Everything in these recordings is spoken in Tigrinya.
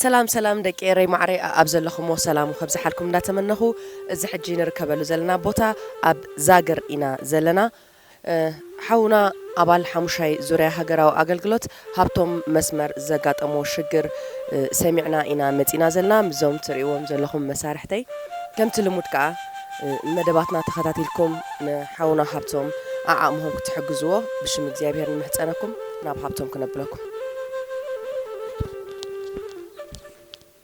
ሰላም ሰላም ደቂ ኤረይ ማዕረይ ኣኣብ ዘለኹምዎ ሰላም ከብዝሓልኩም እንዳተመነኹ እዚ ሕጂ ንርከበሉ ዘለና ቦታ ኣብ ዛግር ኢና ዘለና ሓውና ኣባል ሓሙሻይ ዙርያ ሃገራዊ ኣገልግሎት ሃብቶም መስመር ዘጋጠሞ ሽግር ሰሚዕና ኢና መጺና ዘልና ምስዞም ትርእይዎም ዘለኹም መሳርሕተይ ከምቲ ልሙድ ከኣ መደባትና ተኸታቲልኩም ንሓውና ሃብቶም ኣዓቕምኹም ክትሕግዝዎ ብሽም እግዚኣብሄር ንምሕጸነኩም ናብ ሃብቶም ክነብለኩም።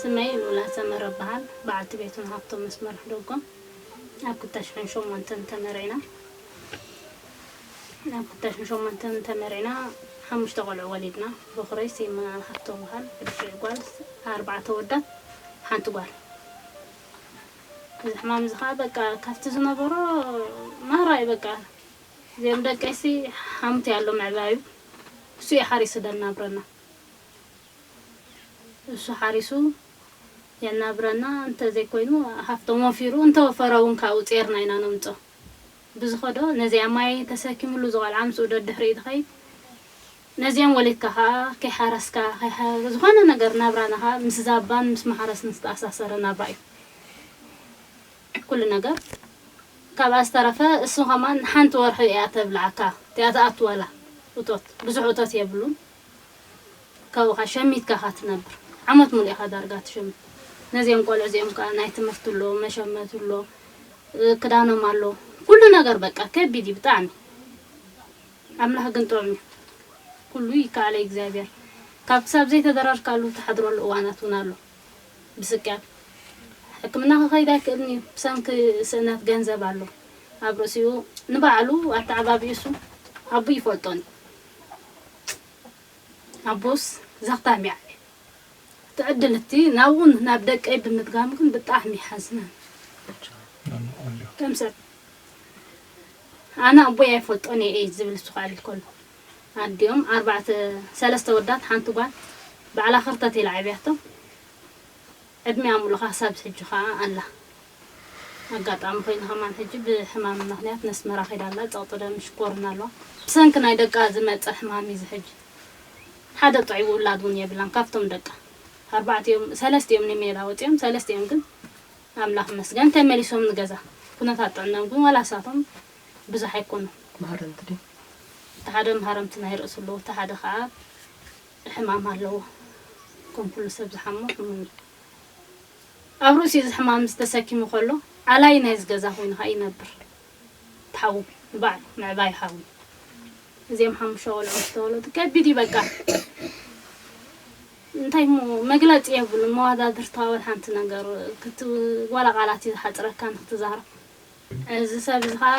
ስመይ ሉላ ሰመረ እበሃል። በዓልቲ ቤቱን ሃብቶም ምስ መርሑ ደጎም ኣብ ክታሽሕን ሸሞንተን ተመርዒና። ኣብ ክታሽሕን ሸሞንተን ተመርዒና ሓሙሽተ ቆልዑ ወሊድና። በኹረይ ሲመ ሃብቶም እበሃል። ብድሕሪኡ ጓል ኣርባዕተ ኣወዳት ሓንቲ ጓል። እዚ ሕማም እዚ ከኣ በቃ ካብቲ ዝነበሮ ናህራ'ዩ በቃ። እዚኦም ደቀይሲ ሓምት እያ ኣሎ ምዕባዩ። ንሱ እዩ ሓሪሱ ደናብረና ንሱ ሓሪሱ የናብረና እንተ ዘይኮይኑ ሃፍቶም ወፊሩ እንተ ወፈረ ውን ካብኡ ጼርና ኢና ነምጾ ብዝኸዶ ነዚኣ ማይ ተሰኪምሉ ዝቆልዓ ምስኡ ደድሕሪኡ ዝኸይድ ነዚኦም ወሊድካ ከኣ ከይሓረስካ ከይሓ ዝኾነ ነገር ናብራና ከኣ ምስ ዛባን ምስ ማሕረስን ዝተኣሳሰረ ናብራ እዩ። ኩሉ ነገር ካብኣ ዝተረፈ እሱ ከማን ሓንቲ ወርሑ ኢያ ተብልዓካ እቲኣ ትኣትወላ እቶት ብዙሕ እቶት የብሉን ካብኡካ ሸሚትካ ኢካ ትነብር ዓመት ሙሉእ ኢካ ዳርጋ ትሽምት ነዚኦም ቆልዑ እዚኦም ከኣ ናይ ትምህርቲ ኣሎ መሸመቲ ኣሎ ክዳኖም ኣሎ ኩሉ ነገር በቃ ከቢድ ኢዩ ብጣዕሚ ኣምላክ ግን ጥዑም ኢዩ ኩሉ ይከኣል ኣይ እግዚኣብሔር ካብ ክሳብ ዘይተደራርካሉ ትሓድረሉ እዋናት ውን ኣሎ። ብስቅያት ሕክምና ክኸይድ ኣይክእልን እዩ ብሰንኪ ስእነት ገንዘብ ኣሎ ኣብ ርእሲኡ ንባዕሉ ኣተዓባቢኡሱ ኣቡኡ ይፈልጦን እዩ ኣቡኡስ ዘኽታም ይዓቢ ትዕድልቲ ናብኡን ናብ ደቀይ ብምድጋሙ ግን ብጣዕሚ ሓዝነ ከምሰብ ኣነ ኣቦይ ኣይፈልጦን እየ ዝብል እሱ ክዕልል ከሎ ኣዲኦም ኣርባዕተ ሰለስተ ኣወዳት ሓንቲ ጓል ባዕላ ክርተት ኢላ ኣዕብያቶም ዕድሚኣ ሙሉእ ካሳብ ሕጂ ካኣ ኣላ ኣጋጣሚ ኮይኑ ከማን ሕጂ ብሕማም ምክንያት ነስመራ ከይዳ ኣላ ጸቅጢ ደም ሽኮርና ኣለዋ ብሰንኪ ናይ ደቃ ዝመጸ ሕማም ኢዩ ሕጂ ሓደ ጥዑይ ውላድ ውን የብላን ካብቶም ደቃ ኣርባዕቲኦም ሰለስቲኦም ንሜዳ ወጺኦም ሰለስቲኦም ግን ኣምላክ ይመስገን ተመሊሶም ንገዛ ኩነታት ጥዕንኦም ግን ዋላ ንሳቶም ብዙሕ ኣይኮኑ። መሃረምቲ ድዮም? እቲ ሓደ መሃረምቲ ናይ ርእሱ ኣለዎ፣ እቲ ሓደ ከኣ ሕማም ኣለዎ። ከም ኩሉ ሰብ ዝሓሞ ሕሙም እዩ። ኣብ ርእሱ እዚ ሕማም እዚ ተሰኪሙ ከሎ ኣላዪ ናይዚ ገዛ ኮይኑ ከኣ ይነብር። እቲ ሓዉ ንባዕሉ ምዕባይ ሓዊ። እዚኦም ሓሙሽተ ቆልዑ ምስ ተወለዱ ከቢድ እዩ በቃ። እንታይ እሞ መግለጺ የብሉን። መዋዳድርታ ወላ ሓንቲ ነገር ክት ዋላ ቃላት እዩ ዝሓጽረካ ንክትዛረብ። እዚ ሰብ እዚ ከኣ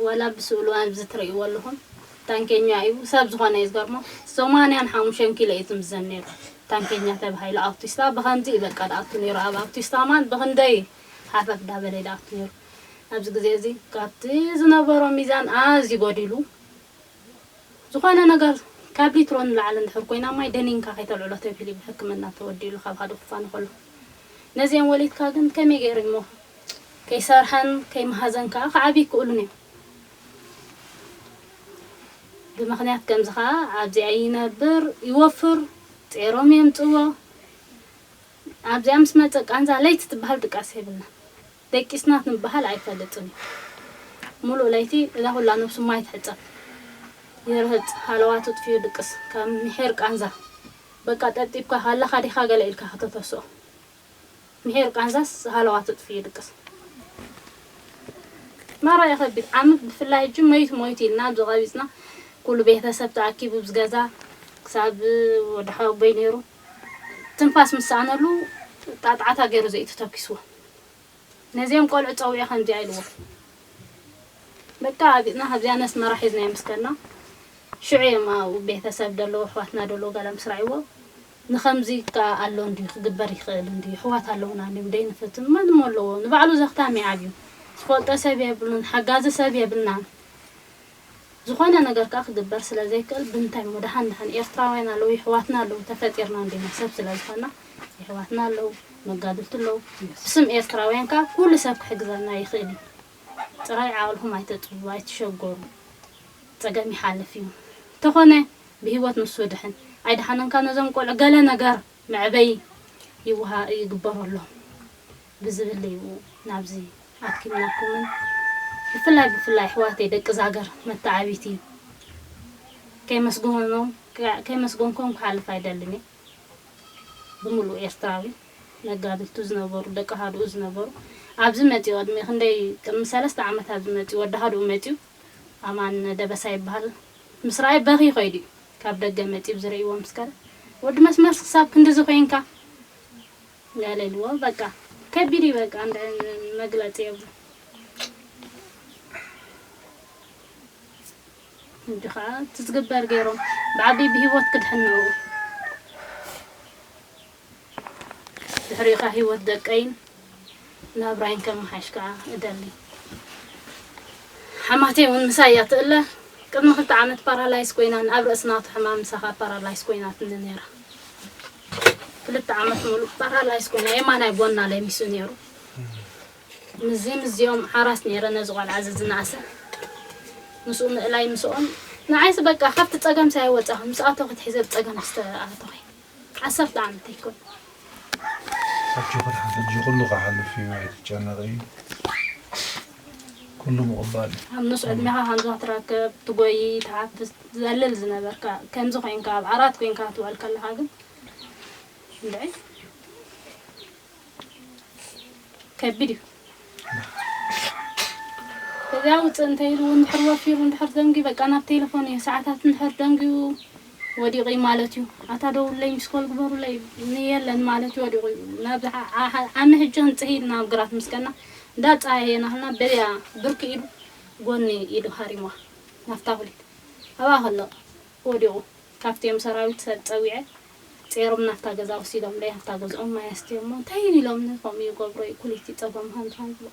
ወላ ብስእሉ ኣብዚ ትርእይዎ ኣለኹም ታንኬኛ እዩ ሰብ ዝኾነ እዩ ዝገርሞ ሰማንያን ሓሙሽተን ኪሎ እዩ ዝምዘን ኔሩ ታንኬኛ ተባሂሉ ኣውቲስታ ብኸምዚ እዩ በቃ ድኣቱ ኔሩ ኣብ ኣውቲስታ ማን ብኽንደይ ሃፈፍ ዳበለ እዩ ድኣቱ ኔሩ ኣብዚ ግዜ እዚ ካብቲ ዝነበሮ ሚዛን ኣዝዩ ጎዲሉ ዝኾነ ነገር ካብ ሊትሮ ንላዕሊ እንድሕር ኮይና ማይ ደኒንካ ከይተልዕሎ ተብሂሉ እዩ ብሕክምና ተወዲኡሉ ካብ ሃደ ኩፋ ንኸሎ። ነዚኦም ወሊድካ ግን ከመይ ገይሩ እሞ ከይሰርሐን ከይመሃዘን ከኣ ክዓብዩ ይክእሉን እዮም። ብምኽንያት ከምዚ ከኣ ኣብዚኣ ይነብር ይወፍር ጼሮም የምጽዎ ኣብዚኣ ምስ መጸ ቃንዛ ለይቲ ትበሃል ድቃስ የብላን። ደቂስና ክንበሃል ኣይፈልጥን እዩ ሙሉእ ለይቲ እዛ ኩላ ነብሱ ማይ ትሕጸብ ይርህጽ ሃለዋት ኣጥፊኡ ድቅስ ከም ሚሒር ቃንዛ በቃ ጠብጢብካ ኣለኻ ዲኻ ገለ ኢልካ ከተተስኦ ሚሒር ቃንዛስ ሃለዋት ኣጥፊኡ ይድቅስ ናብራ የኸብድ ዓመት ብፍላይ ሕጂ መይቱ ሞይቱ ኢልና ኣብዚ ቀቢጽና ኩሉ ቤተሰብ ተኣኪቡ ኣብዚ ገዛ ክሳብ ወዲ ሓወቦይ ኔሩ ትንፋስ ምስ ሰኣነሉ ጣጥዓታ ጌሩ ዘእዩ ተተኪስዎ ነዜም ቆልዑ ጸዊዑ ከምዚኣ ኢልዎም በቃ ኣቢጥና ካብዚኣ ነስ መራ ሒዝናዮ ምስ ከድና ሽዑ እዮም ኣብኡ ቤተሰብ ደለዉ ኣሕዋትና ደለዉ ገለ ምስ ራእይዎ ንኸምዚ ከኣ ኣሎ እንድዩ ክግበር ይኽእል እንድዩ ኣሕዋት ኣለዉና እንድዮም ደይንፍትን መን እሞ ኣለዎ ንባዕሉ ዘኽታሚ ዓብዩ ዝፈልጦ ሰብ የብሉን ሓጋዚ ሰብ የብልናን ዝኾነ ነገር ከኣ ክግበር ስለ ዘይክእል ብምንታይ እሞ ደሓን ደሓን ኤርትራውያን ኣለዉ የሕዋትና ኣለዉ ተፈጢርና እንዲና ሰብ ስለ ዝኾንና የሕዋትና ኣለዉ መጋድልቲ ኣለዉ ብስም ኤርትራውያን ከኣ ኩሉ ሰብ ክሕግዘና ይኽእል እዩ ጥራይ ዓቕልኹም ኣይተጥብቡ ኣይትሸጎሩ ጸገም ይሓልፍ እዩ እንተኾነ ብሂወት ንሱ ይድሕን ኣይደሓነን ከኣ ነዞም ቆልዑ ገለ ነገር መዕበዪ ይወሃ ይግበረሎም። ብዝብል እዩ ናብዚ ኣድኪምናኩምን ብፍላይ ብፍላይ ኣሕዋተይ ደቂ ዛገር መታዓቢቲ ከይመስገኖም ከይመስገንኮም ክሓልፍ ኣይደልን እየ ብምሉእ ኤርትራዊ መጋድልቱ ዝነበሩ ደቂ ኣሃዱኡ ዝነበሩ ኣብዚ መጺኡ ቅድሚ ክንደይ ቅድሚ ሰለስተ ዓመት ኣብዚ መጺኡ ወዲ ኣሃዱኡ መጺኡ ኣማን ደበሳ ይበሃል ምስ ረኣየ በኽዩ ከይዱ እዩ ካብ ደገ መጺኡ ዝርእይዎ ምስ ከደ ወዲ መስመርስ ክሳብ ክንድዚ ኮይንካ ጋለልዎ በቃ ከቢድ እዩ በቃ እንዳ መግለጺ የብሉን ሕጂ ከኣ እቲ ዝግበር ጌሮም ብዓቢይ ብሂወት ክድሕን ነርኡ ድሕሪኡ ከኣ ሂወት ደቀይን ናብራይን ከመሓይሽ ከኣ እደሊ። ሓማተይ እውን ምሳይ እያ እትእለ። ቅድሚ ክልተ ዓመት ፓራላይዝ ኰይና ን ኣብ ርእሲ ናቱ ሕማም ምሳኻ ፓራላይዝ ኰይናትኒ ነይራ። ክልተ ዓመት ምሉእ ፓራላይዝ ኰይና የማናይ ጐና ለሚሱ ነይሩ። ምስዚ ምስዚኦም ሓራስ ነይረ ነዚ ቈልዓ እዚ ዝነኣሰ ምስኡ ምእላይ ምስኦም ንዓይሲ በቃ ካብቲ ጸገምሲ ኣይወጻኹን ምስ ኣቶኺ ትሒዘ ብጸገምሲ ተኣቶኺ። ዓሰርተ ዓመት ኣይኮነን። ሕጂ ኩሉ ክሓልፍ እዩ ኣይትጨነቂ ኩሉ ምቅባል እዩ። ኣብ ኑስ ዕድሜኻ ከምዛ ትረክብ ትጎይ ትሓፍስ ትዘልል ዝነበርካ ከምዚ ኮንካ ኣብ ዓራት ኮንካ ክትውዕል ከለኻ ግን እንድዒ። ከቢድ እዩ እዚኣ ውፅእ እንተይሉ እውን ድሕር ወፊሩ እንድሕር ደንጉዩ በቃ ናብ ቴሌፎን እዩ ሰዓታት እንድሕር ደንጉዩ ወዲቑ እዩ ማለት እዩ ኣታ ደውለይ ምስኮል ግበሩለይ የለን ማለት እዩ ወዲቑ እዩ ናብ ዓሚ ህጂ ክንፅሂ ኢልና ኣብ ግራት ምስ ከና እንዳፀሃየና ህልና በያ ብርኪ ኢዱ ጎኒ ኢዱ ሃሪምዋ ናፍታ ኩሊት ኣብኣ ከሎ ወዲቑ ካብቲ እዮም ሰራዊት ሰብ ፀዊዐ ጼሮም ናብታ ገዛ ወሲዶም ደይ ኣብታ ገዝኦም ማይ ኣስትዮሞ እንታይ ኢሎምኒ ከምኡ ይገብሮ ዩ ኩሊት ይጸቦም ሃንደራይ ይብሎ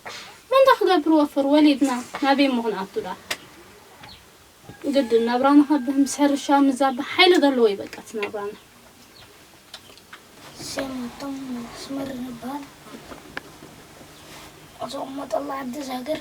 እሞ እንታይ ክገብር ወፍር ወሊድና ናበይ እሞ ክንኣቱ ድኣ ግድን ናብራና ካብ ምስ ሕርሻ ምዛባ ሓይሊ ዘለዎ ይበቃ እቲ ናብራና ሴማቶም ስመር ንባል ዝቕመጠላ ዓዲ ዛግር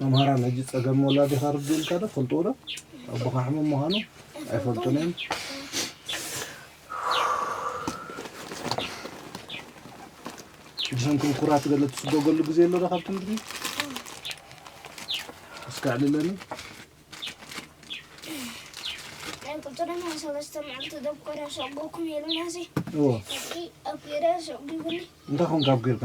መምሃራን ሕጂ ጸገም ወላዲ ከርድኡ ኢልካ ዶ ትፈልጥዎ ዶ ኣቦኻ ሕሙም ምዃኑ ኣይፈልጡን እዮም ብሰንኩም ኩራት ገለ ትስጎገሉ ግዜ ኣሎ ዶ ካብ ትምህርቲ እስከ ዕልለኒ እንታይ ኮንካ ኣብቂርካ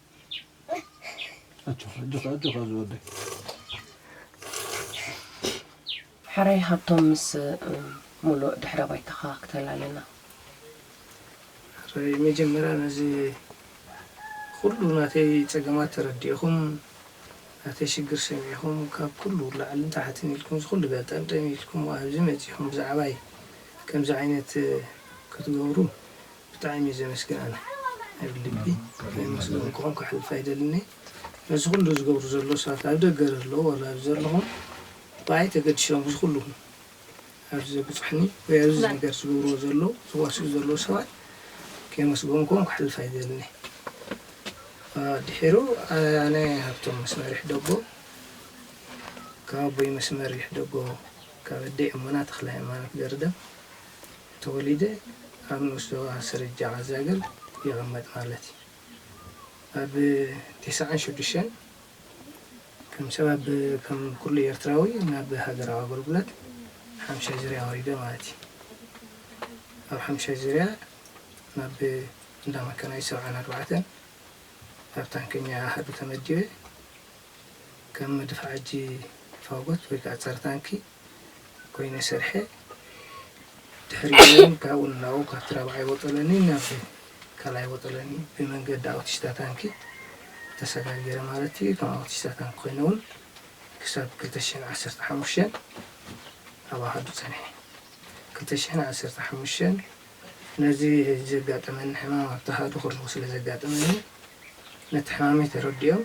ሐራይ ሃብቶም ምስ ሙሉእ ድሕረ ባይታኻ ክተላልና። ሕራይ መጀመርያ ነዚ ኹሉ ናተይ ጸገማት ተረዲእኹም ናተይ ሽግር ሰሚዕኹም ካብ ኩሉ ላዕልን ታሕትን ኢልኩም እዚ ኹሉ ገልጠምጠም ኢልኩም ኣብዚ መጺኹም ብዛዕባይ ከምዚ ዓይነት ክትገብሩ ብጣዕሚ እየ ዘመስግን ኣነ ኣብ ልቢ ናይ ምስገን ክኾን ክሕልፍ ኣይደልን እየ ነዚ ኩሉ ዝገብሩ ዘሎ ሰባት ኣብ ደገ ለለዉ ዋላ ኣብዚ ዘለኹም ብኣይ ተገዲሶም እዚ ኩሉ ኣብዚ ዘብጹሕኒ ወይ ኣብዚ ነገር ዝገብርዎ ዘለዉ ዝዋስኡ ዘለዉ ሰባት ከየመስገንክዎም ክሕልፍ ኣይደልን እየ ድሒሩ ኣነ ሃብቶም መስመር ይሕደጎ ካብ ኣቦይ መስመር ይሕደጎ ካብ ኣደይ እሙና ተክለሃይማኖት ገርደም ተወሊደ ኣብ ንኡስዞባ ስርጃ ዓዛግር ይቕመጥ ማለት እዩ። ኣብ ቴስዓን ሽዱሽተን ከም ሰብ ኣብ ከም ኩሉ ኤርትራዊ ናብ ሃገራዊ ኣገልግሎት ሓምሻይ ዙርያ ወሪደ ማለት እዩ። ኣብ ሓምሻይ ዙርያ ናብ እንዳ መካናይዝድ ሰብዓን ኣርባዕተን ኣብ ታንከኛ ኣሃዱ ተመዲበ ከም መድፍዓጂ ፋጎት ወይ ከኣ ጸረ ታንኪ ኮይነ ሰርሐ ድሕሪ እውን ካብኡ ንናብኡ ካብቲ ራብዓይ ወጠለኒ ናብ ካልኣይ ወጠለኒ ብመንገዲ ኣውቲስታ ታንኪ ተሰጋጊረ ማለት እዩ ከም ኣውቲስታ ታንኪ ኮይነ እውን ክሳብ 215 ኣብ ኣሃዱ ፀኒሐ 215 ነዚ ዘጋጠመኒ ሕማም ኣብቲ ኣሃዱ ከለኹ ስለ ዘጋጠመኒ ነቲ ሕማመይ ተረዲኦም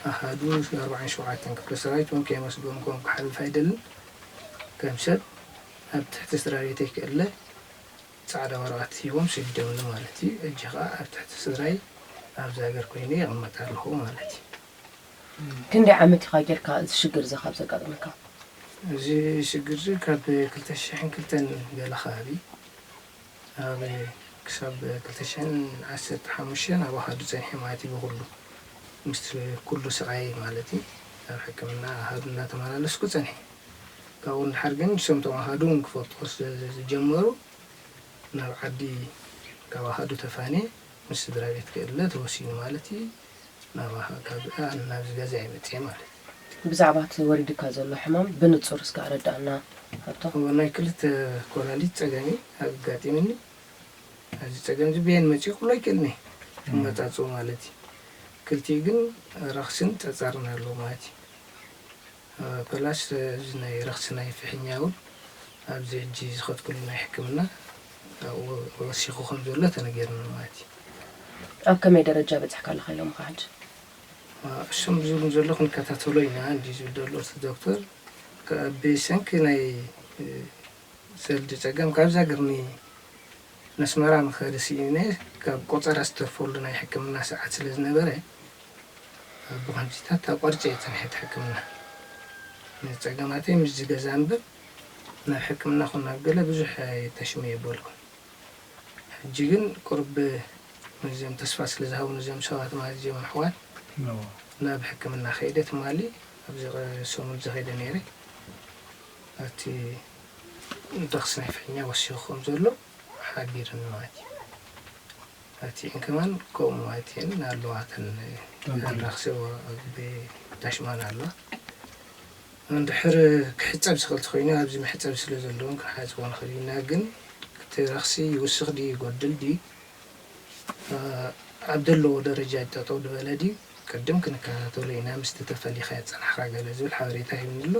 ኣሃዱ ኣርብዓን ሸውዓተን ክፍለ ሰራዊት እውን ከየመስገንክዎም ክሓልፍ ኣይደልን። ከም ሰብ ኣብ ትሕቲ ስድራቤተይ ክእለ ጻዕዳ ወረቐት ሂቦም ሰዲዶምኒ ማለት እዩ። ሕጂ ከኣ ኣብ ትሕቲ ስድራይ ኣብዚ ሃገር ኮይነ ይቕመጥ ኣለኹ ማለት እዩ። ክንደይ ዓመት ኢኻ ጌርካ እዚ ሽግር እዚ ካብ ዘጋጥመካ? እዚ ሽግር እዚ ካብ ክልተ ሽሕን ክልተን ገለ ከባቢ ኣብ ክሳብ ክልተ ሽሕን ዓሰርተ ሓሙሽተን ኣብ ኣሃዱ ጸኒሐ ማለት እዩ ብኹሉ ምስቲ ኩሉ ስቓይ ማለት እዩ ኣብ ሕክምና ኣሃዱ እንዳተመላለስኩ ጸኒሐ ካብኡ ንደሓር ግን ንሶም እቶም ኣሃዱ እውን ክፈልጥዎ ስለ ዝጀመሩ ናብ ዓዲ ካብ ኣሃዱ ተፋንየ ምስ ስድራቤት ክእለ ተወሲኑ ማለት እዩ። ናብ ኣፍሪቃ ናብዚ ገዛ እየ መጺኤ ማለት እዩ። ብዛዕባ እቲ ወሪዱካ ዘሎ ሕማም ብንጹር እስከ ኣረድኣና ሃብቶም። ናይ ክልተ ኮላሊት ጸገም እዩ ኣጋጢምኒ። እዚ ጸገም እዚ በየን መጺኡ ክብሎ ኣይክእልን እየ ኣመጻጽኡ ማለት እዩ። ክልቲኡ ግን ረኽሲን ጸጸርን ኣለዎ ማለት እዩ። ፕላስ እዚ ናይ ረኽሲ ናይ ፍሕኛ እውን ኣብዚ ሕጂ ዝኸድክሉ ናይ ሕክምና ኣብኡ ወሲኹ ከም ዘሎ ተነጊርኒ ማለት እዩ። ኣብ ከመይ ደረጃ በጺሕካ ኣለኻ ኢሎምኻ ሕጂ? እሶም ዝብሉኒ ዘለዉ ክንከታተሎ ኢና እንድዩ ዝብል ዘሎ እቲ ዶክተር ብሰንኪ ናይ ሰልዲ ጸገም ካብ ዛግርኒ ነስመራ ንኸዲ ሲኢነ ካብ ቆጸራ ዝተርፈሉ ናይ ሕክምና ሰዓት ስለ ዝነበረ ብኸምዚታት ኣቋሪጸ እየ ጸኒሐ እቲ ሕክምና ንጸገማተይ ምስዚ ገዛ እንበር ናብ ሕክምና ኹን ናብ ገለ ብዙሕ ኣየታሽም እየ በልኩ ሕጂ ግን ቁርብ ምስዚኦም ተስፋ ስለ ዝሃቡኒ እዚኦም ሰባት ማለት እዚኦም ኣሕዋት ናብ ሕክምና ከይደ ትማሊ ኣብዚ ሰሙንዚ ከይደ ነይረ። ኣብቲ ንደኽ ስናይፈኛ ወሲኹ ከም ዘሎ ሓቢርኒ ማለት እዩ። ኣብቲኤን ከማን ከምኡ ማለት እየን ኣለዋ እተን ኣንራክሴዎ ኣብ ዳሽማን ኣለዋ እንድሕር ክሕፀብ ዝኽእል ተኮይኑ ኣብዚ መሕፀቢ ስለ ዘለውን ክንሓፅቦ ንኽእል ኢና ግን እቲ ረኽሲ ይውስኽ ድዩ ይጎድል ድዩ ኣብ ዘለዎ ደረጃ ጠጠው ድበለ ድዩ ቅድም ክንከታተሎ ኢና ምስቲ ተፈሊኻዮ ዝፀናሕካ ገለ ዝብል ሓበሬታ ሂብኒ ኣሎ።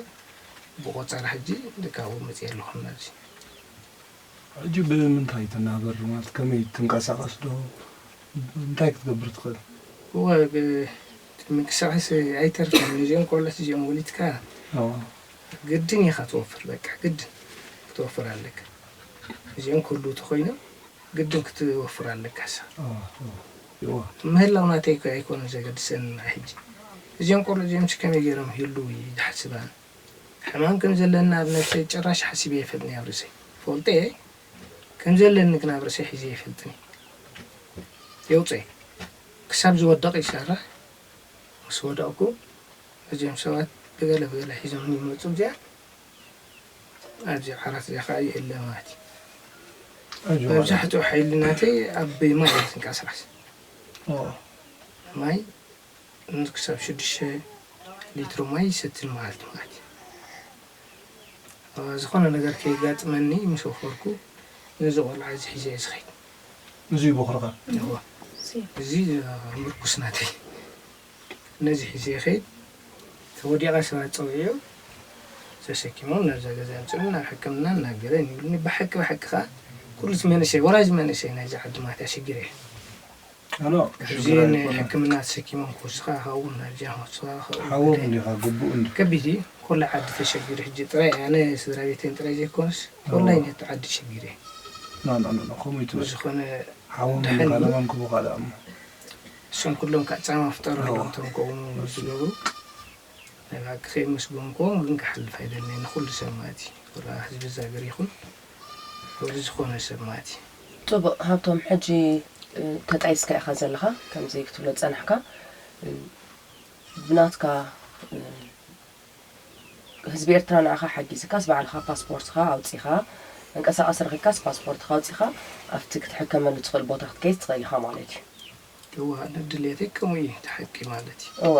ብቆጸራ ሕጂ ካብኡ መጽየ ኣለኹ ናብዚ። ሕጂ ብምንታይ ትናበር ማለት ከመይ ትንቀሳቀስ ዶ እንታይ ክትገብር ትኽእል። እወ ምንቅስቃስ ኣይተርፍን ነዚኦም ቆሎት እዚኦም ወሊድካ ግድን ኢኻ ትወፍር በቃ ግድን ክትወፍር ኣለካ እዚኦም ክህልዉ ተኾይኖም ግድን ክትወፍር ኣለካሳ። እዎ ምህላው ናተይ እኮ ኣይኮነን ዘገድሰኒ ንዓይ ሕጂ እዚኦም ቆርዑ እዚኦምሲ ከመይ ጌሮም ይህልው እየ ዝሓስብ ኣነ ሕማም ከም ዘለኒ ኣብ ነብሰይ ጭራሽ ሓሲበ ኣይፈልጥን ኣብ ርእሰይ እፈልጦ እየ ከም ዘለኒ ግን ኣብ ርእሰይ ሒዘ ኣይፈልጥን እየ የውጽእ ክሳብ ዝወድቅ ይሰርሕ ምስ ወደቅኩ እዚኦም ሰባት ብገለ ብገለ ሒዞምኒ ይመጹ እዚኣ ኣብዚ ዓራት እዚኣ ከኣ ይእለ ማለት እዩ። መብዛሕትኡ ሓይሊ ናተይ ኣብ ማይ እየ ዝንቀሳቐስ። ማይ ክሳብ ሽዱሽተ ሊትሮ ማይ ይሰቲ ንመዓልቲ ማለት እዩ። ዝኾነ ነገር ከየጋጥመኒ ምስ ወፈርኩ ነዚ ቆልዓ እዚ ሒዘ እየ ዝኸይድ። እዚ እዩ ቦኽርኻ? እዚ ምርኩስ ናተይ። ነዚ ሒዘ ይኸይድ ተወዲቐ ሰባት ፀዊዑ ተሰኪሞም ናብዛ ገዛ የምፅኡኒ ናብ ሕክምና እናገበ ይብሉኒ ብሓቂ ብሓቂ ከዓ ኩሉ እቲ መንእሰይ ወራጅ መንእሰይ ናይዛ ዓዲ ማትያ ሽግር እየ ሕዚ ንሕክምና ተሰኪሞም ክወስኻ ካብኡ ናብዚኣ ክወስኻ ካብኡ ከቢድ እዩ ኮላ ዓዲ ተሸጊሩ ሕጂ ጥራይ ኣነ ስድራ ቤተይን ጥራይ ዘይኮነስ ኮላይ ነቲ ዓዲ ሽግር እየ ብዝኾነ ደሓን እዩ እሶም ኩሎም ካኣ ጻማ ፍጠሩ ኣለዎም እቶም ከምኡ ዝገብሩ ናይ ብሓቂ ከየመስገንክዎም ግን ክሓልፍ ኣይደልን ንኩሉ ሰብ ማለት እዩ ወላ ህዝቢ እዛ ሃገር ይኩን ወዲ ዝኮነ ሰብ ማለት እዩ። ጽቡቅ ሃብቶም ሕጂ ተጣይስካ ኢካ ዘለካ ከምዚ ክትብሎ ዝጸናሕካ ብናትካ ህዝቢ ኤርትራ ንኣኻ ሓጊዝካስ ባዕልኻ ፓስፖርትኻ ኣውጺኻ መንቀሳቐሲ ረኺብካስ ፓስፖርትኻ ኣውጺኻ ኣብቲ ክትሕከመሉ ትኽእል ቦታ ክትከይድ ትኽእል ኢኻ ማለት እዩ። የዋሃደር ድልየተይ ከምኡ እዩ እቲ ሓቂ ማለት እዩ። እወ።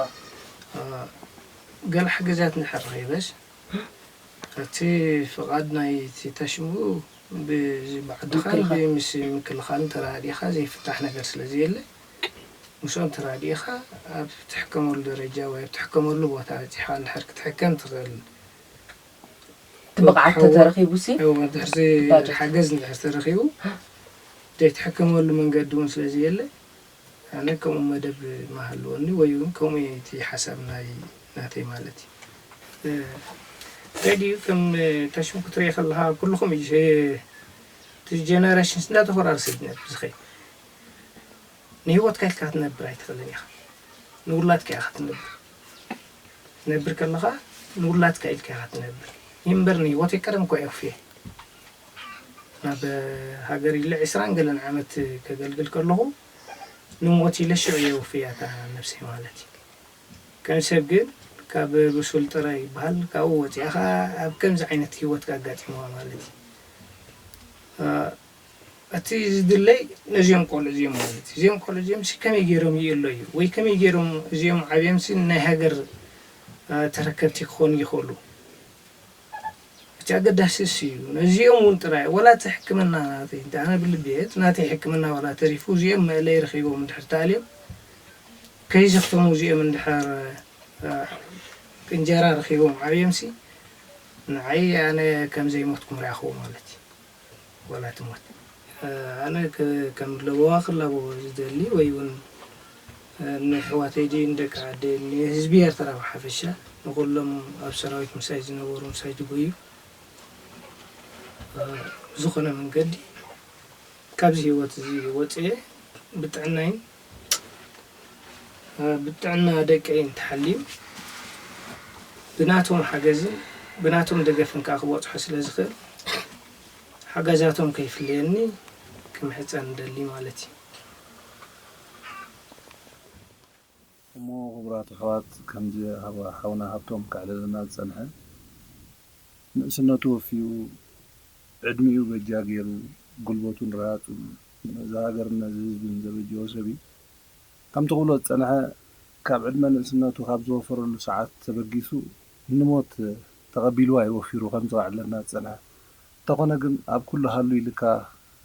ገለ ሓገዛት እንድሕር ረኺበስ እቲ ፍቓድ ናይቲ ታሽሙ ብዚ ብዓድኻን ብምስ ምክልኻልን ተራኣዲኻ ዘይፍታሕ ነገር ስለዘየለ፣ ምስኦም ተራዲእኻ ኣብ ትሕከመሉ ደረጃ ወይ ኣብ ትሕከመሉ ቦታ በጺሕኻ እንድሕር ክትሕከም ትኽእል እቲ ብቕዓት ተተረኺቡሲ እወ እንድሕር ዘይ ባጀት። ሓገዝ እንድሕር ተረኺቡ ዘይትሕከመሉ መንገዲ እውን ስለ ዘየለ ኣነ ከምኡ መደብ ምሃለወኒ ወይ እውን ከምኡ እየ እቲ ሓሳብ ናይ ናተይ ማለት እዩ። እንታይ ድዩ ከም ተሽም ክትሪኦ ከለኻ ኩልኹም እቲ ጀነረሽንስ እንዳተኾራረሰ ድዩ ነብዚ ከ ንህይወትካ ኢልካ ክትነብር ኣይትኽእልን ኢኻ ንውላድካ ኢኻ ክትነብር ክትነብር ከለኻ ንውላድካ ኢልካ ኢኻ ትነብር ይንበር ንህይወተይ ቀደም እኳ የኽፍየ ናብ ሃገር ኢለ ዕስራን ገለን ዓመት ከገልግል ከለኹ ንሞት ኢለ ሽዑ የውፍያታ ነብሰይ ማለት እዩ ከም ሰብ ግን ካብ ብሱል ጥረ ይበሃል ካብኡ ወፂኣኻ ኣብ ከምዚ ዓይነት ሂወትካ ኣጋጢምዋ ማለት እዩ እቲ ዝድለይ ነዚኦም ቆልዑ እዚኦም ማለት እዩ። እዚኦም ቆልዑ እዚኦም ሲ ከመይ ገይሮም ይእለዩ ወይ ከመይ ገይሮም እዚኦም ዓብዮም ሲ ናይ ሃገር ተረከብቲ ክኾኑ ይኽእሉ? እቲ ኣገዳሲ እሱ እዩ። ነዚኦም እውን ጥራይ ዋላ እቲ ሕክምና ናተይ እንተ ኣነ ብልቢ እየ እቲ ናተይ ሕክምና ዋላ ተሪፉ እዚኦም መእለይ ረኺቦም እንድሕር ተኣልዮም ከይሰኽተሙ እዚኦም እንድሕር እንጀራ ረኺቦም ዓብዮም ሲ ንዓይ ኣነ ከም ዘይሞትኩም ረኣኹዎ ማለት እዩ። ወላ ትሞት ኣነ ከም ለበዋ ክላበዎ ዝደሊ ወይ ውን ንኣሕዋተይ ድዩ ንደቂ ዓደይ ንህዝቢ ኤርትራ ብሓፈሻ ንኹሎም ኣብ ሰራዊት ምሳይ ዝነበሩ ምሳይ ዝጎዩ ብዝኾነ መንገዲ ካብዚ ሂወት እዚ ወጽየ ብጥዕናይን ብጥዕና ደቀይ እንተሓልዩ ብናቶም ሓገዝን ብናቶም ደገፍን ከኣ ክበጽሖ ስለ ዝኽእል ሓገዛቶም ከይፍለየኒ ክምሕጸን እደሊ ማለት እዩ። እሞ ክቡራት ኣሕዋት ከምዚ ሓውና ሃብቶም ከዕልለና ዝጸንሐ ንእስነቱ ወፍዩ ዕድሚኡ በጃ ጌሩ ጉልበቱን ርሃጹን ነዚ ሃገርን ነዚ ህዝብን ዘበጀዎ ሰብ እዩ። ከምቲ ክብሎ ዝጸንሐ ካብ ዕድመ ንእስነቱ ካብ ዝወፈረሉ ሰዓት ተበጊሱ ንሞት ተቐቢልዋ እዩ ወፊሩ ከም ዘዋዕለና ዝጸንሐ። እንተኾነ ግን ኣብ ኩሉ ሃሉ ኢልካ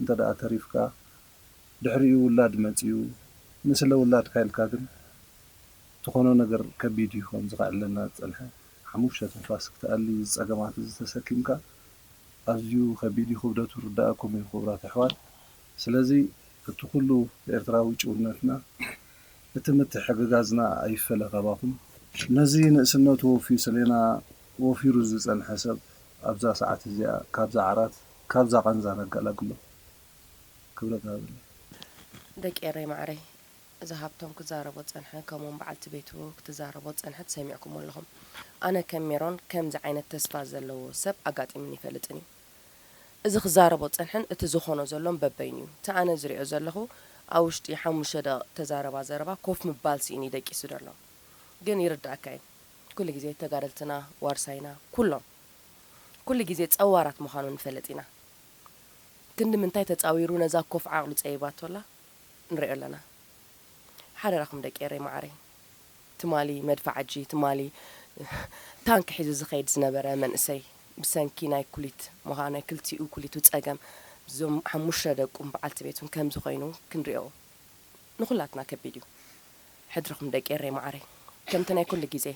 እንተደኣ ተሪፍካ ድሕሪኡ ውላድ መጺኡ ንስለ ውላድካ ኢልካ ግን ትኾኖ ነገር ከቢድ እዩ ከም ዝኸዕለና ዝጸንሐ። ሓሙሽተ ትንፋስ ክትኣሊ እዚ ጸገማት እዚ ተሰኪምካ። ኣዝዩ ከቢድ እዩ ክብደቱ ይርዳኣኩም እዩ ክቡራት ኣሕዋት ስለዚ እቲ ኩሉ ኤርትራዊ ጭውነትና እቲ ምትሕግጋዝና ኣይፈለ ካባኹም። ነዚ ንእስነቱ ወፍዩ ሰሌና ወፊሩ ዝጸንሐ ሰብ ኣብዛ ሰዓት እዚኣ ካብዛ ዓራት ካብዛ ቃንዛ ነጋላግሎ ክብረት ሃበለይ። ደቂ ኤረይ ማዓረይ እዚ ሃብቶም ክዛረቦ ዝጸንሐ ከምኡውን በዓልቲ ቤቱ ክትዛረቦ ዝጸንሐት ሰሚዕኩሞ ኣለኹም። ኣነ ከም ሜሮን ከምዚ ዓይነት ተስፋ ዘለዎ ሰብ ኣጋጢሙኒ ኣይፈልጥን እዩ። እዚ ክዛረቦ ዝጸንሐን እቲ ዝኾኖ ዘሎን በበይኑ እዩ። እቲ ኣነ ዝሪኦ ዘለኹ ኣብ ውሽጢ ሓሙሽተ ደቂቅ እተዛረባ ዘረባ ኮፍ ምባል ስኢኑ እዩ ደቂሱ ዘሎ። ግን ይርደኣካ እዩ ኩሉ ግዜ ተጋደልትና ዋርሳይና ኩሎም ኩሉ ግዜ ጸዋራት ምዃኑ ንፈለጥ ኢና። ክንዲ ምንታይ ተጻዊሩ ነዛ ኮፍ ዓቅሉ ጸቢባቶ ኣላ። ንሪኦ ኣለና ሓደራኹም ደቂ ኤረይ ማዓረይ። ትማሊ መድፋዓጂ ትማሊ ታንኪ ሒዙ ዝኸይድ ዝነበረ መንእሰይ ብሰንኪ ናይ ኩሊት ሞሃ ናይ ክልቲኡ ኩሊቱ ጸገም ዞም ሓሙሽተ ደቁን በዓልቲ ቤቱን ከምዚ ኮይኑ ክንሪኦ ንኹላትና ከቢድ እዩ ሕድርኹም ደቂ ኤረይ ማዓረይ ከምቲ ናይ ኩሉ ግዜ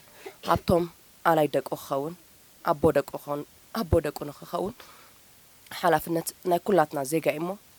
ሃብቶም ኣላይ ደቁ ክኸውን ኣቦ ደቁ ክኸውን ኣቦ ደቁ ንኽኸውን ሓላፍነት ናይ ኩላትና ዜጋ እዩሞ